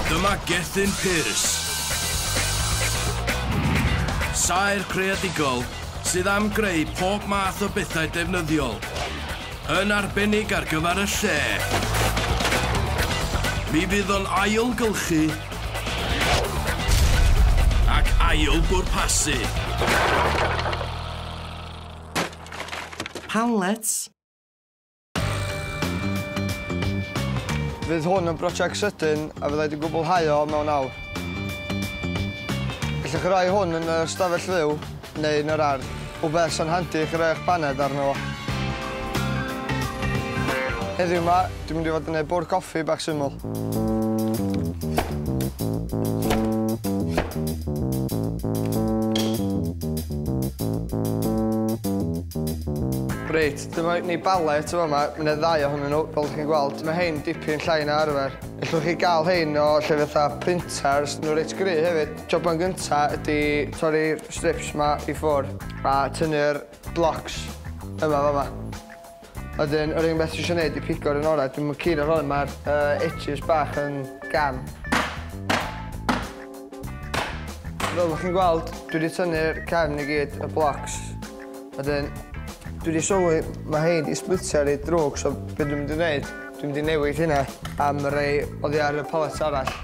Dyma Gethin Pearce. Saer creadigol sydd am greu pob math o bethau defnyddiol, yn arbennig ar gyfer y lle. Mi fydd o'n ailgylchu ac ail bwrpasu. Hamlets. Fydd hwn yn brosiect sydyn a fyddai wedi gwblhau o mewn awr. Gallwch chi roi hwn yn y stafell fyw neu yn yr ardd, rhywbeth sy'n handi i chi roi eich baned arno fo. Heddiw 'ma, Dwi'n mynd i fod yn neud bwrdd coffi bach syml. Reit, dyma ni balet o fama. Mae yna ddau ohonyn nhw, fel chi'n gweld. Mae hein dipyn llai na arfer. Ellwch chi gael hein o lle fatha printers. Nhw reit gry hefyd. Joban gynta ydy torri'r strips ma i ffwr a tynnu'r blocs yma fama. Wedyn yr unig beth dwi isio neud yw pigo'r un ora. Dwi'm yn keen ar hwn ma'r yy edges bach yn gam. Fel bo' chi'n gweld dwi 'di tynnu'r cefn i gyd, y blocs. Wedyn dwi 'di sylwi ma' rhein 'di splitio reit ddrwg so be' dwi mynd i neud dwi mynd i newid hynna am rei oddi ar y palets arall.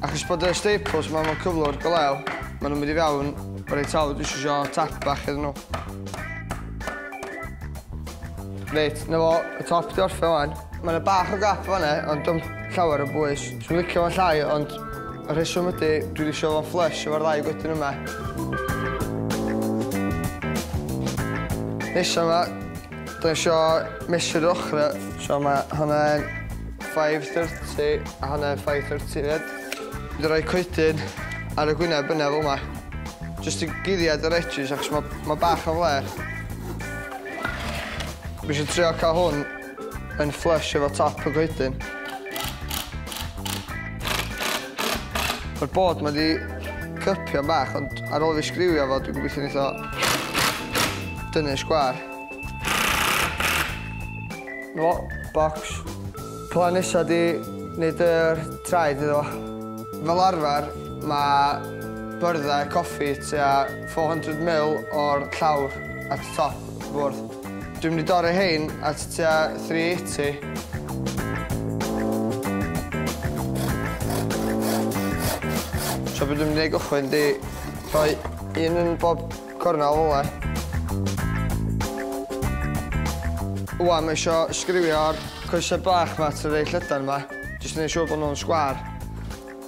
Achos bod y staples ma mewn cyflwr go lew, ma nhw'n mynd i fewn reit hawdd, dwi eisiau sio tap bach iddyn nhw. Reit, na fo, y top di orffio wan. Mae yna bach o gap fanna, ond dwi'n llawer o bwys. Dwi'n licio fo'n llai, ond y rheswm ydy, dwi wedi sio fo'n flush efo'r ddau gwydyn yma. Nesa yma, Dwi isio mesu'r ochrau, so ma' hwnna yn five thirty a hwnna yn five thirty 'fyd. Dwi 'di roi coedyn ar y gwyneb yna fel 'ma. Jyst i guddiad yr edges achos ma' ma' bach o flêr. Dwi isio trio ca'l hwn yn flush efo top y goedyn. Mae'r board 'ma 'di cypio'n bach, ond ar ôl fi sgriwio fo, dwi'n gobeithio neith o dynnu y sgwar. No, box. Plan nesa di wneud yr traed iddo fo. Fel arfer, mae byrddau coffi tua 400 mil o'r llawr at y top. Bwrdd. Dwi'n mynd i dorri hein at tua 380. So beth dwi'n mynd i gychwyn di rhoi un yn bob cornel ola. Wan, mae eisiau sgriwio'r coesau bach ma trwy ei llydan ma. Jyst yn ei siŵr bod nhw'n sgwar.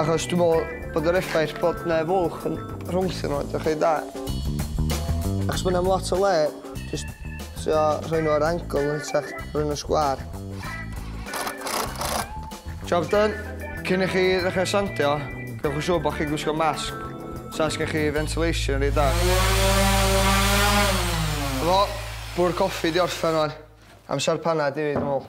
Achos dwi'n meddwl bod yr effaith bod 'na fuwch yn rhwngthyn nhw, dach chi'n dda. Achos bod 'na lot o le, jyst trio rhoi nhw ar angle yn hytrach rhoi nhw sgwâr. Job done. Cyn i chi ddechrau sandio, gwnewch yn siŵr bod chi'n gwisgo masg, so os gen chi ventilation reit dda. Efo, bwrw coffi di orffen rwan. Amser panad i fi, dwi'n meddwl.